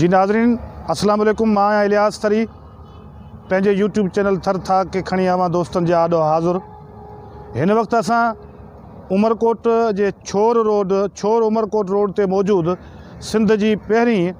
جي ناظرين اسلام عليڪم مان آهيان الياس ٿري پنهنجي يوٽيوب چينل ٿر ٿاڪ کي کڻي اوهان دوستن جي آڏو حاضر هن وقت اسان عمرڪوٽ جي ڇور روڊ ڇور عمرڪوٽ روڊ تي موجود سنڌ جي پهرين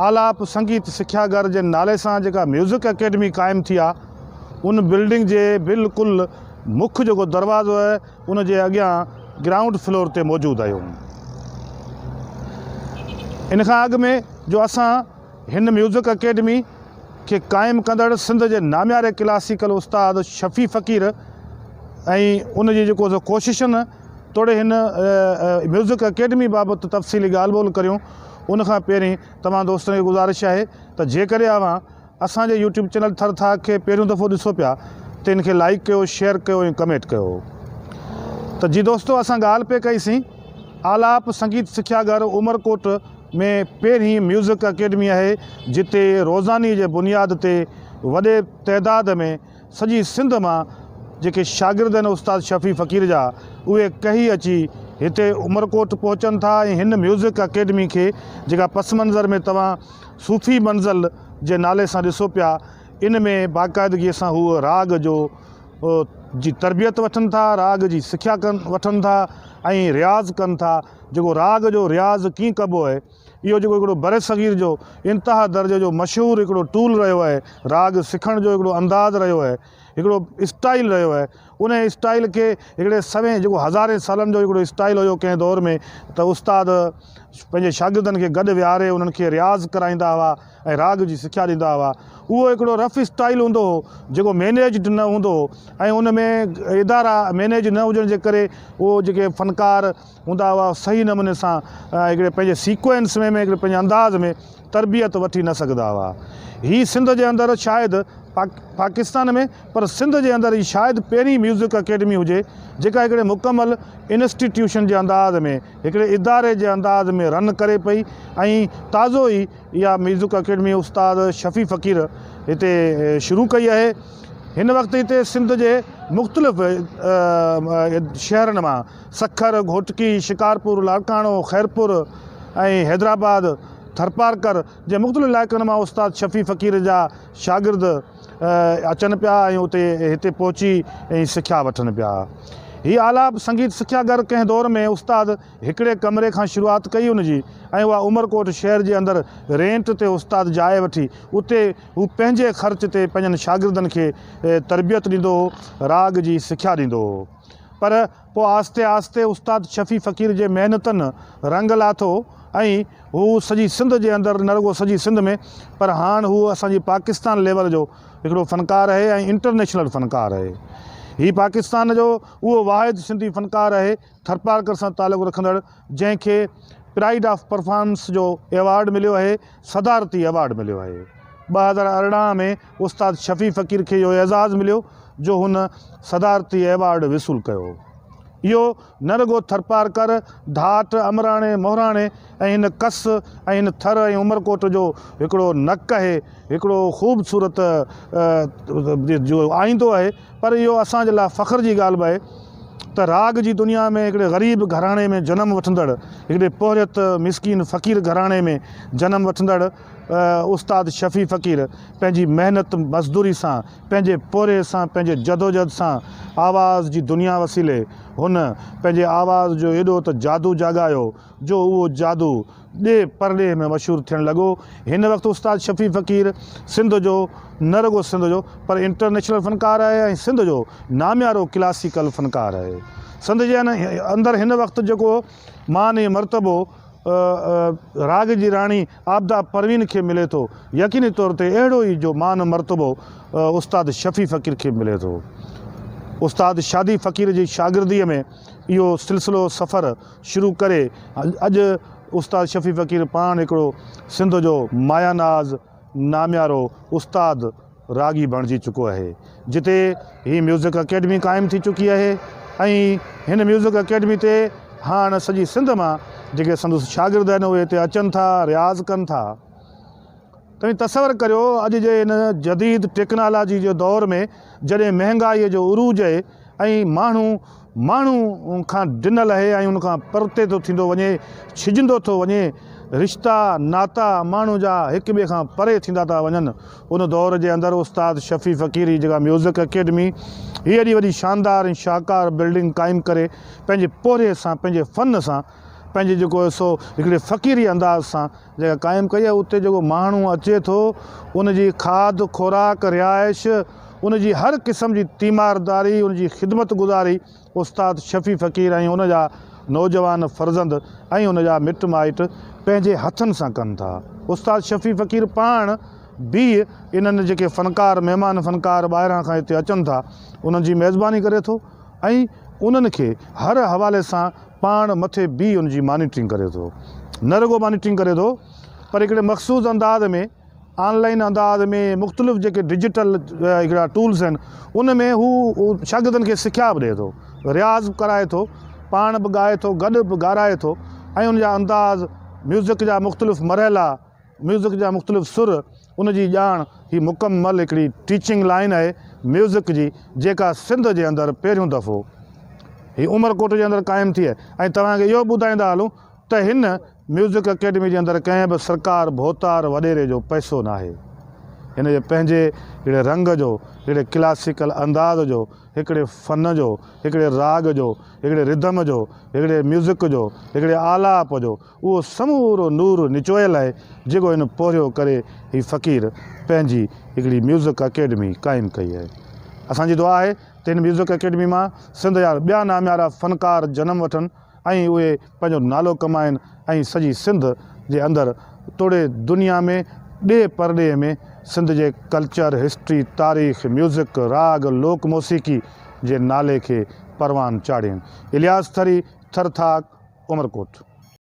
آلاپ سنگيت سکيا گھر جي نالي سان جيڪا ميوزڪ اڪيڊمي قائم ٿي آهي ان بلڊنگ جي بلڪل مک جيڪو دروازو آهي ان جي اڳيان گرائونڊ فلور تي موجود آهيون. ان کان اڳ ۾ جو اسان هن ميوزڪ اڪيڊمي کي قائم ڪندڙ سنڌ جي نامياري ڪلاسيڪل استاد شفيع فقير ۽ ان جي جيڪو سو ڪوششن توڙي هن ميوزڪ اڪيڊمي بابت تفصيلي ڳالهه ٻولهه ڪريون ان کان پهرين توهان دوستن کي گذارش آهي ته جيڪڏهن اوهان اسان جي يوٽيوب چينل ٿر ٿاڪ کي پهريون دفعو ڏسو پيا ته ان کي لائيڪ ڪيو شيئر ڪيو ۽ ڪميٽ ڪيو ته جي دوستو اسان ڳالهه پئي ڪئي سين آلاپ سنگيت سکيا گهر عمرڪوٽ ۾ پهرين ميوزڪ اڪيڊمي آهي جتي روزاني جي بنياد تي وڏي تعداد ۾ سڄي سنڌ مان جيڪي شاگرد آهن استاد شفيع فقير جا اهي ڪهي اچي هتي عمرڪوٽ پهچن ٿا ۽ هن ميوزڪ اڪيڊمي کي جيڪا پس منظر ۾ توهان صوفي منزل جي نالي سان ڏسو پيا ان ۾ باقاعدگي سان هو راڳ جو جي تربيت وٺن ٿا راڳ جي سکيا ڪن وٺن ٿا ۽ رياض ڪن ٿا جيڪو راڳ جو رياض ڪيئن ڪبو آهي اهو جيڪو هڪڙو برصغير جو انتها درجي جو مشهور هڪڙو ٽول رهيو آهي راڳ سکڻ جو هڪڙو انداز رهيو آهي هڪڙو اسٽائيل رهيو آهي ان اسٽائيل کي هڪڙي سوين جيڪو هزارين سالن جو هڪڙو اسٽائيل هيو ڪنهن دور ۾ ته استاد پنهنجي شاگردن کي گڏ ويهاري انهن کي رياض ڪرائيندا هئا ۽ راڳ جي سکيا ڏيندا هئا اهو هڪڙو رف اسٽائيل هوندو هو جيڪو مينيجڊ نه هوندو هو ۽ ان ۾ ادارا مينيج نه هجڻ جي ڪري اهو جيڪي فنڪار هوندا هئا صحيح نموني سان هڪڙي پنهنجي سيڪوئنس ۾ هڪڙي پنهنجي انداز ۾ تربيت وٺي نه سگهندا هئا هي سنڌ جي اندر شايد پاڪستان ۾ پر سنڌ جي اندر هي شايد پهرين ميوزڪ اڪيڊمي هجي جيڪا هڪڙي مڪمل انسٽيٽيوشن جي انداز ۾ هڪڙي اداري جي انداز ۾ رن ڪري پئي ۽ تازو ئي اها ميوزڪ اڪيڊمي استاد شفيع فقير هتي شروع ڪئي آهي هن وقت هتي سنڌ جي مختلف شهرن مان سکر، گهوٽڪي، شڪارپور، لاڙڪاڻو، خيرپور ۽ حيدرآباد، ٿرپارڪر جي مختلف علائقن مان استاد شفيع فقير جا شاگرد اچن پيا ۽ اتي هتي پهچي سکيا وٺن پيا. هي آلاپ سنگيت سکيا گهر ڪنهن دور ۾ استاد هڪڙي ڪمري کان شروعات ڪئي ان جي ۽ اها عمرڪوٽ شهر جي اندر رينٽ تي استاد جاء وٺي اتي هو پنهنجي خرچ تي پنهنجن شاگردن کي تربيت ڏيندو هو راڳ جي سکيا ڏيندو هو. پر پوء آهستي آهستي استاد شفيع فقير جي محنتن رنگ لاٿو ۽ هو سڄي سنڌ جي اندر نه رڳو سڄي سنڌ ۾ پر هاڻ هو اسان جي پاڪستان ليول جو هڪڙو فنڪار اهي ۽ انٽرنيشنل فنڪار اهي هي پاڪستان جو اهو واحد سنڌي فنڪار اهي ٿرپارڪر سان تعلق رکندڙ جنهن کي پرائيڊ آف پرفارمنس جو ايوارڊ مليو اهي صدارتي ايوارڊ مليو اهي ٻه هزار ارڙهن ۾ استاد شفيع فقير کي اهو اعزاز مليو جو هن صدارتي ايوارڊ وصول ڪيو هو. اهو نه رڳو ٿرپارڪر، ڌاٽ، امراڻي، مهراڻي ۽ هن ڪس ۽ هن ٿر ۽ عمرڪوٽ جو هڪڙو نڪ اهي هڪڙو خوبصورت جو آئيندو اهي پر اهو اسان جي لاء فخر جي ڳالهه به اهي ته راڳ جي دنيا ۾ هڪڙي غريب گهراڻي ۾ جنم وٺندڙ هڪڙي پورهيت مسڪين فقير گهراڻي ۾ جنم وٺندڙ استاد شفيع فقير پنهنجي محنت مزدوري سان پنهنجي پورهيي سان پنهنجي جدوجهد سان آواز جي دنيا وسيلي هن پنهنجي آواز جو ايڏو ته جادو جاڳايو جو اهو جادو ڏيهه پرڏيهه ۾ مشهور ٿيڻ لڳو هن وقت استاد شفيع فقير سنڌ جو نه رڳو سنڌ جو پر انٽرنيشنل فنڪار آهي ۽ سنڌ جو ناميارو ڪلاسيڪل فنڪار آهي سنڌ جي اندر هن وقت جيڪو مان ۽ مرتبو راڳ جي راڻي عابده پروين کي ملي ٿو، يقيني طور تي اهڙو ئي جو مان مرتبو استاد شفيع فقير کي ملي ٿو. استاد شادي فقير جي شاگرديء ۾ اهو سلسلو سفر شروع ڪري اڄ استاد شفيع فقير پاڻ هڪڙو سنڌ جو مايا ناز، ناميارو استاد راڳي بڻجي چڪو اهي جتي هي ميوزڪ اڪيڊمي قائم ٿي چڪي اهي ۽ هن ميوزڪ اڪيڊمي تي هاڻ سڄي سنڌ مان جيڪي سندس شاگرد آهن اهي هتي اچن ٿا رياض ڪن ٿا توهين تصور ڪريو اڄ جي هن جديد ٽيڪنالاجي جي دور ۾ جڏهن مهنگائي جو عروج اهي ۽ ماڻهو ماڻهو ان کان ڊنل اهي ۽ ان کان پرتي ٿو ٿيندو وڃي، ڇڄندو ٿو وڃي، رشتا، ناتا، ماڻهو جا هڪ ٻئي کان پري ٿيندا ٿا وڃن. ان دور جي اندر استاد شفيع فقير هي جيڪا ميوزڪ اڪيڊمي هي ايڏي وڏي شاندار ۽ شاهڪار بلڊنگ قائم ڪري پنهنجي پورهيي سان، پنهنجي فن سان پنهنجي جيڪو هي سو هڪڙي فقيري انداز سان جيڪا قائم ڪئي آهي اتي جيڪو ماڻهو اچي ٿو ان جي کاڌ خوراڪ رهائش ان جي هر قسم جي تيمارداري ان جي خدمت گذاري استاد شفيع فقير ۽ ان جا نوجوان فرزند ۽ ان جا مٽ مائٽ پنهنجي هٿن سان ڪن ٿا استاد شفيع فقير پاڻ بي انهن جيڪي فنڪار مهمان فنڪار ٻاهران کان هتي اچن ٿا انهن جي ميزباني ڪري ٿو. ۽ انهن کي هر حوالي سان پاڻ مٿي بيهي ان جي مانيٽرنگ ڪري ٿو. نه رڳو مانيٽرنگ ڪري ٿو پر هڪڙي مخصوص انداز ۾ آن لائين انداز ۾ مختلف جيڪي ڊجيٽل هڪڙا ٽولز آهن ان ۾ هو شاگردن کي سکيا به ڏئي ٿو، رياض به ڪرائي ٿو، پاڻ به ڳائي ٿو، گڏ به ڳارائي ٿو ۽ ان جا انداز، ميوزڪ جا مختلف مرحلا، ميوزڪ جا مختلف سر، ان جي ڄاڻ هي مڪمل هڪڙي ٽيچنگ لائين آهي ميوزڪ جي جيڪا سنڌ جي اندر پهريون دفعو هي عمرڪوٽ جي اندر قائم ٿي آهي ۽ توهان کي اهو به ٻڌائيندا هلون ته هن ميوزڪ اڪيڊمي جي اندر ڪنهن به سرڪار ڀوتار وڏيري جو پئسو ناهي هن جي پنهنجي هڪڙي رنگ جو هڪڙي ڪلاسيڪل انداز جو هڪڙي فن جو هڪڙي راڳ جو هڪڙي رڌم جو هڪڙي ميوزڪ جو هڪڙي آلاپ جو اهو سمورو نور نچويل آهي جيڪو هن پورهيو ڪري هي فقير پنهنجي هڪڙي ميوزڪ اڪيڊمي قائم ڪئي آهي. اسان جي دعا آهي ته هن ميوزڪ اڪيڊمي مان سنڌ جا ٻيا ناميارا فنڪار جنم وٺن ۽ اهي پنهنجو نالو ڪمائن ۽ سڄي سنڌ جي اندر توڙي دنيا ۾ ڏيهه پرڏيهه ۾ سنڌ جي ڪلچر، هسٽري، تاريخ، ميوزڪ، راڳ، لوڪ موسيقي جي نالي کي پروان چاڙهين. الياس ٿري، ٿر ٿاڪ، عمرڪوٽ.